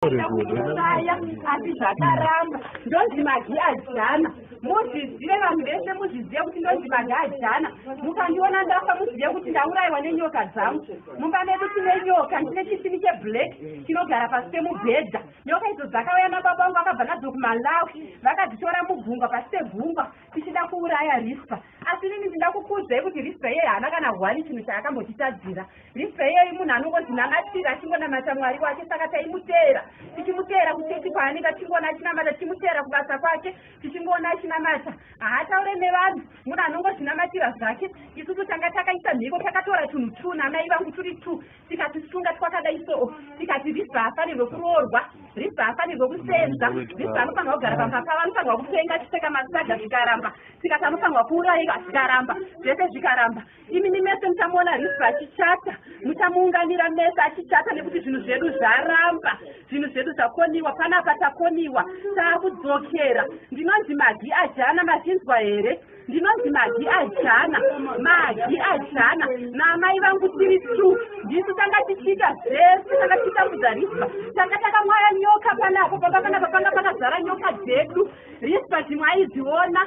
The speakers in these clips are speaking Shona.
kuuraya asi zvakaramba ndonzi magi ajana muzvizive vanhu vese muzvizive kuti ndonzi magi ajana mukandiona ndafa muzive kuti ndaurayiwa nenyoka dzangu mumba medu tine nyoka ndine chisini cheblack chinogara pasi pemubhedha nyoka idzo dzakauya nababa vangu vakabva nadzo kumalawi vakadzitora mugungwa pasi pegungwa tichida kuuraya rispa asi inini ndinda kukuudzai kuti rispa iyeyo haana kana hwani chinhu chaakambotitadzira rispa iyeyo imunhu anongozvinamatira achingonamata mwari wake saka taimuteera tichimuteera kuchechi kwaanenge achingoona achinamata tichimuteera kubasa kwake tichingoona achinamata haataure nevanhu munhu anongozvinamatira zvake isusu tanga takaisa mhiko takatora tunhu two namai vangu turi two tikati kusunga twakadai so tikati risa haafanirwe kuroorwa risa haafanirwe kusenza risa anofanirwa kugara pamhapa vanofanirwa kupenga chipfeka masaga zvikaramba tikati anofanirwa kuurayiwa zvikaramba zvese zvikaramba imimi mese muchamuona risa achichata muchamuunganira mese achichata nekuti zvinhu zvedu zvaramba zvinhu zvedu zvakoniwa panapa takoniwa taakudzokera ndinonzi magi ajana machinzwa here ndinonzi magi ajana magi ajana naamai vangu tiri tu ndisu tanga tichiita zvese tanga tichitambudza rispa tanga takamwaya nyoka panapo pamba panapa panga pakazara nyoka dzedu rispa zvimwe aidziona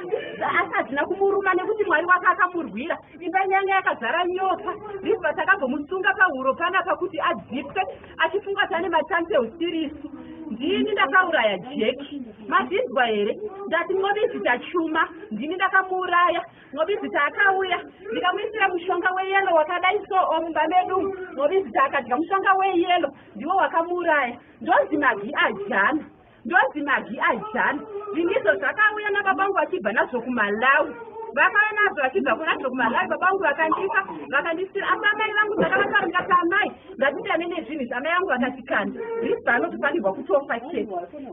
asi hadzina kumuruma nekuti mwari wake akamurwira imba nyanga yakazara nyoka rispa takabvomusunga pahuro panapa kuti adzipwe achifunga kuti ane machance eusiri isu ndini ndakauraya jeki mazvinzwa here ndati mobizita chuma ndini ndakamuuraya mobizita akauya ndikamuisira mushonga weyelo wakadai so omumba medu mobizita akadya mushonga weyelo ndiwo wakamuuraya ndonzi magi ajana ndonzi magi ajana ndinizvo zvakauya nababangu vachibva nazvo kumalawi vakauya nazvo vachibva kunazvo kumalawi babangu vakandipa vakandisira asi amai vangu ndakavataura ndikati amai ndatindane nezvinhu zvaamai vangu vakatikanda risi anotofanirwa kutofa chete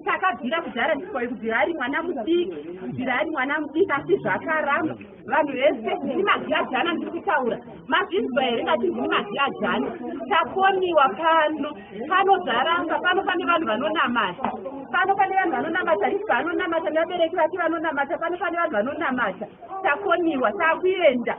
takabvira kudhara ndikwai kubvira ari mwana mudiki kubvira ari mwana mudiki asi zvakaramba vanhu vese ndini magiyajana ndiri kutaura mazvinzwa here ngati ndini magiyajana takoniwa pano panozaramba pano pane vanhu vanonamata pano pane vanhu vanonamata risi vanonamata nevabereki vake vanonamata pano pane vanhu vanonamata takoniwa takuenda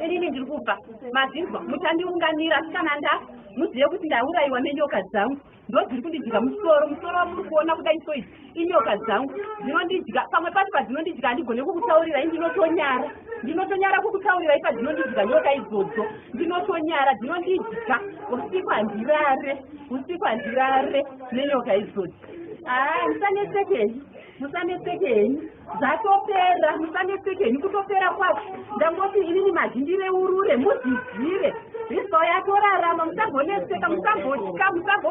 inini ndiri kubva mazvinzwa mutandiunganira sikana nda muzive kuti ndaurayiwa nenyoka dzangu ndozviri kundidya musoro musoro wamuri kuona kudai so izi inyoka dzangu dzinondidya pamwe pacho padzinondidya handigone kukutaurirai ndinotonyara ndinotonyara kukutaurirai padzinondidya nyoka idzodzo ndinotonyara dzinondidya usiku handirare usiku handirare nenyoka idzodzo haa ndisanetsekei musanetseke henyu zvatopera musanetseke henyu kutopera kwacho ndangoti inini mazhindireurure muzvizive rizwa yatorarama musambonetseka musambotya musambo